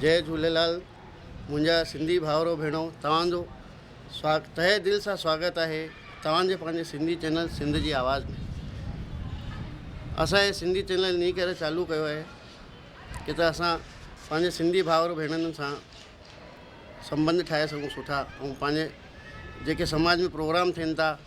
جئي جهوليلال منهنجا سنڌي ڀائرو ڀيڻو توهان جو سوا تهه دل سان سواگت آهي توهان جي پنهنجي سنڌي چينل سنڌ جي آواز ۾ اسان هي سنڌي چينل انهي ڪري چالو ڪيو آهي ڪي ته اسان پنهنجي سنڌي ڀائرو ڀيڻن سان سمبند ٺاهي سگهون سٺا ۽ پنهنجي جيڪي سماج ۾ پروگرام ٿين ٿا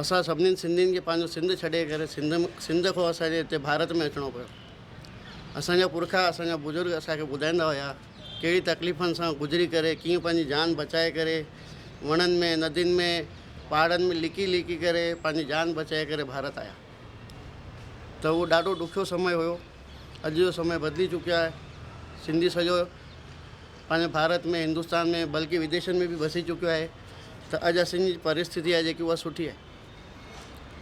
اسان سڀني سنڌين کي پنهنجو سنڌ ڇڏي ڪري سنڌ سنڌ کان اسان کي هتي ڀارت ۾ اچڻو پيو. اسان جا پرکا اسان جا بزرگ اسان کي ٻڌائيندا هيا ڪهڙي تڪليفن سان گذري ڪري ڪيئن پنهنجي جان بچائي ڪري وڻن ۾ ندين ۾ پهاڙن ۾ لڪي لڪي ڪري پنهنجي جان بچائي ڪري ڀارت آيا ته اهو ڏاڍو ڏکيو سمي هيو اڄ جو سمي بدلي چڪيو آهي سنڌي سڄو پنهنجي ڀارت ۾ هندستان ۾ بلڪه وديشن ۾ به وسي چڪيو آهي ته اڄ اسين جي پريستٿي آهي جيڪي اها سٺي آهي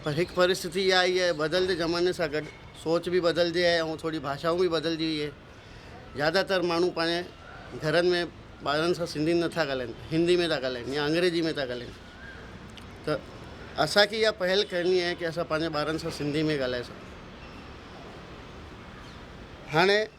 پر هڪ پريستٿي اها آئي آهي بدلندي زماني سان گڏ سوچ به بدلجي آهي ۽ ٿوري ڀاشائون به بدلجي وئي آهي زياده تر ماڻهو پنهنجي گهرن ۾ ٻارن سان سنڌي نٿا ڳالهائين هندي ۾ ٿا ڳالهائين يا انگريزي ۾ ٿا ڳالهائين ته اسانکي اها پهل ڪرڻي آهي ڪي اسان پنهنجي ٻارن سان سنڌي ۾ ڳالهائي سگهون هاڻي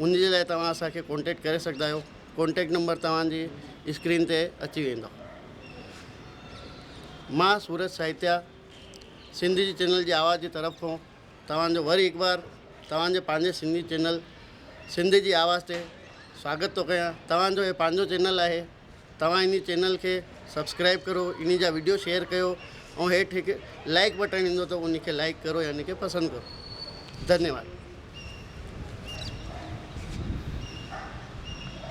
ان جي لاء توهان اسان کي ڪانٽيڪٽ ڪري سگهندا آهيو ڪانٽيڪٽ نمبر توهان جي اسڪرين تي اچي ويندو مان سورج ساهتيا سنڌ جي چينل جي آواز جي طرف کان توهان جو وري هڪ بار توهان جي پنهنجي سنڌي چينل سنڌ جي آواز تي سواگت ٿو ڪيان توهان جو هي پنهنجو چينل آهي توهان انهي چينل کي سبسڪرائب ڪرو انهي جا ويڊيو شيئر ڪيو ۽ هيٺ هڪ لائڪ بٽڻ ايندو ته انهي کي لائڪ ڪرو يا انهي کي پسند ڪرو ڌنيواد.